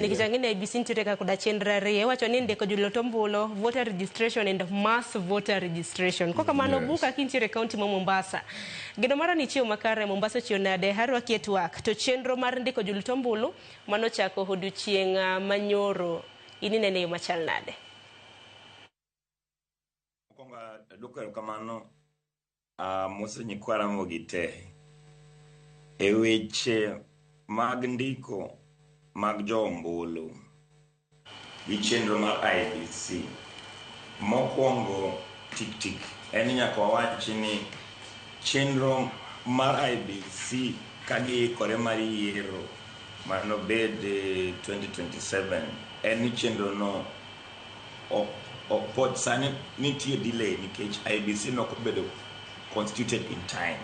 Nikech ang'e ni IEBC nitiere ka koda chenro ariyo, iwacho ni ndiko jolot ombulu, voter registration and mass voter registration. Kok kamano, Yes. Buka kintiere e kaunti ma Mombasa. Geno mara ni chiew makare Mombasa ochiew nade? Arwaki e twak. To chenro mar ndiko jolot ombulu mano chako odiochieng' ah, manyoro. In inene yo machal nade? Mokwongo adwoko erokamano ah, Musa Nyikwa Ramogi te e weche mag ndiko mag jo ombulu gi chenro mar IEBC. Mokwongo tik tik en ni nyaka wawachi ni chenro mar IEBC ka giikore mar yiero manobed eh, 2027 en ni chenrono ok ok pod sani nitie delay nikech IBC ne ok obedo constituted in time.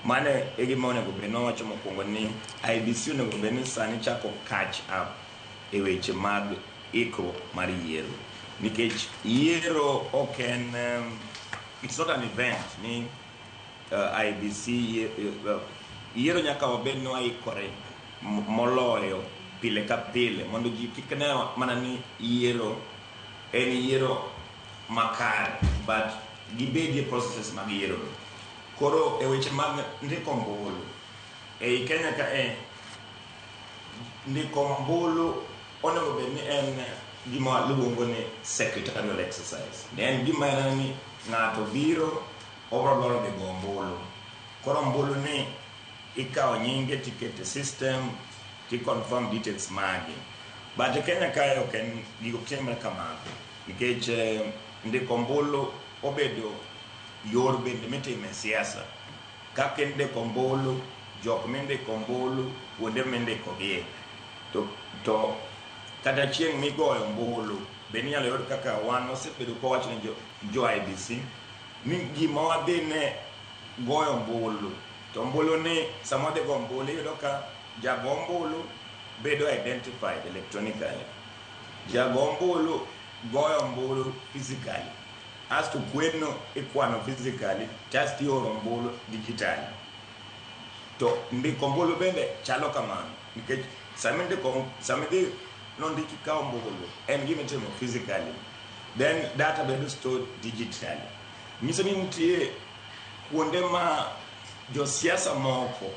Mane e gima onego bed ni wawacho mokwongo ni IBC onego bed ni sani chako catch up e weche mag ikruok mar yiero nikech yiero ok en um, it's not an event ni IEBC yiero nyaka wabed ni waikore moloyo pile ka pile mondo ji kik ne mana ni yiero en yiero makare but gibedie processes mag yiero. Koro e weche mag ndiko ombulu ei Kenya kae, ndiko ombulu Onego bed ni en gima luongo ni secretarial exercise. Ne en gima en ni ng'ato biro obro dwaro dhi go ombulu. Koro ombulu ni ikawo nyinge tikete system ti confirm details magi. But e Kenya kae ok en gigo ok timre kamano nikech ndiko ombulu obedo yor bende mitime siasa. kaka indiko ombulu, jok mindiko ombulu, kuonde mindikogie. To, to kata chieng' migoyo ombulu, be ninyalo yud kaka wan wasebedo kowacho ne jo, jo IBC ni gima wadhi ne goyo ombulu, to ombulu ni sama wadhi goyo ombulu iyudo ka jago ombulu bedo identified electronically. Jago ombulu goyo ombulu physically. Asto kwenno ikwano physically kasto ioro ombulu digitally. To ndiko ombulu bende chalo kamano nikech sama indiko, sama idhi nondik ikawo ombulu en gima itimo physically then data bedo stored digitally. Nyiso ni nitie kuonde ma josiasa moko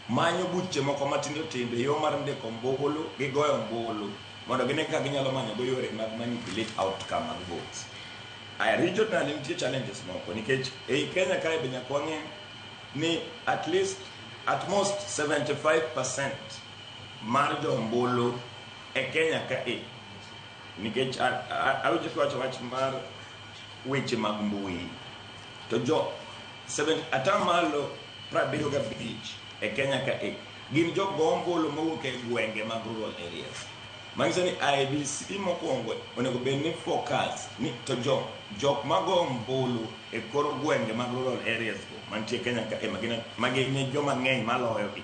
manyo buche moko matindo tindo e yo mar ndiko ombulu gi goyo ombulu mondo gine kaka ginyalo manyogo yore mag manipulate outcome mag votes. Aya, regional nitie challenges moko nikech ei Kenya kae be nyaka wang'e ni at least at most 75% mar jo ombulu e Kenya kae nikech a- a- awinjo kiwacho wach mar weche mag mbui to jo 70 atamalo Prabiriyo gabich e Kenya ka e gin jok go ombulu mowuok e gwenge mag rural areas. Manyiso ni IEBC mokwongo onego bed ni focus ni to jok jok mago ombulu e kor gwenge mag rural areas go mantie Kenya ka e magina magine joma ng'eny maloyo gi.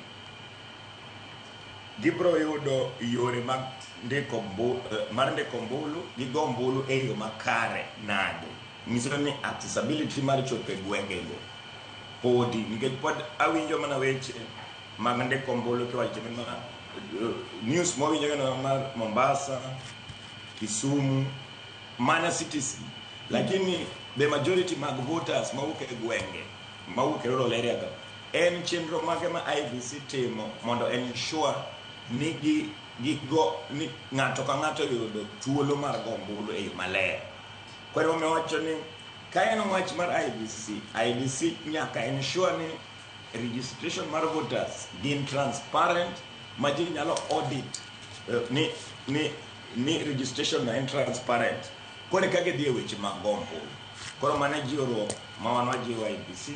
Gibro yudo yore mag ndiko mbu, eh, mar ndiko ombulu gi go ombulu e yo makare nade? Nyiso ni accessibility mar chopo e gwengego podi nikech pod awinjo mana weche mag ndiko ombulu kiwacho ni ma news mawinjo gana mar Mombasa, Kisumu, mana cities lakini the majority mag voters mawuok e gwenge mawuok e rural area go en chenro mage ma IBC timo mondo ensure ni gi gigo ni ng'ato ka ng'ato yudo thuolo mar go ombulu e yo maler. Kwani wamewacho ni ka en wach mar IBC, IBC nyaka ensure ni registration mar voters gin transparent ma ji nyalo audit eh, ni, ni, ni registration na en transparent kone ka gidhi e weche mag gombo koro mane jiwruok ma wan wajiwo IBC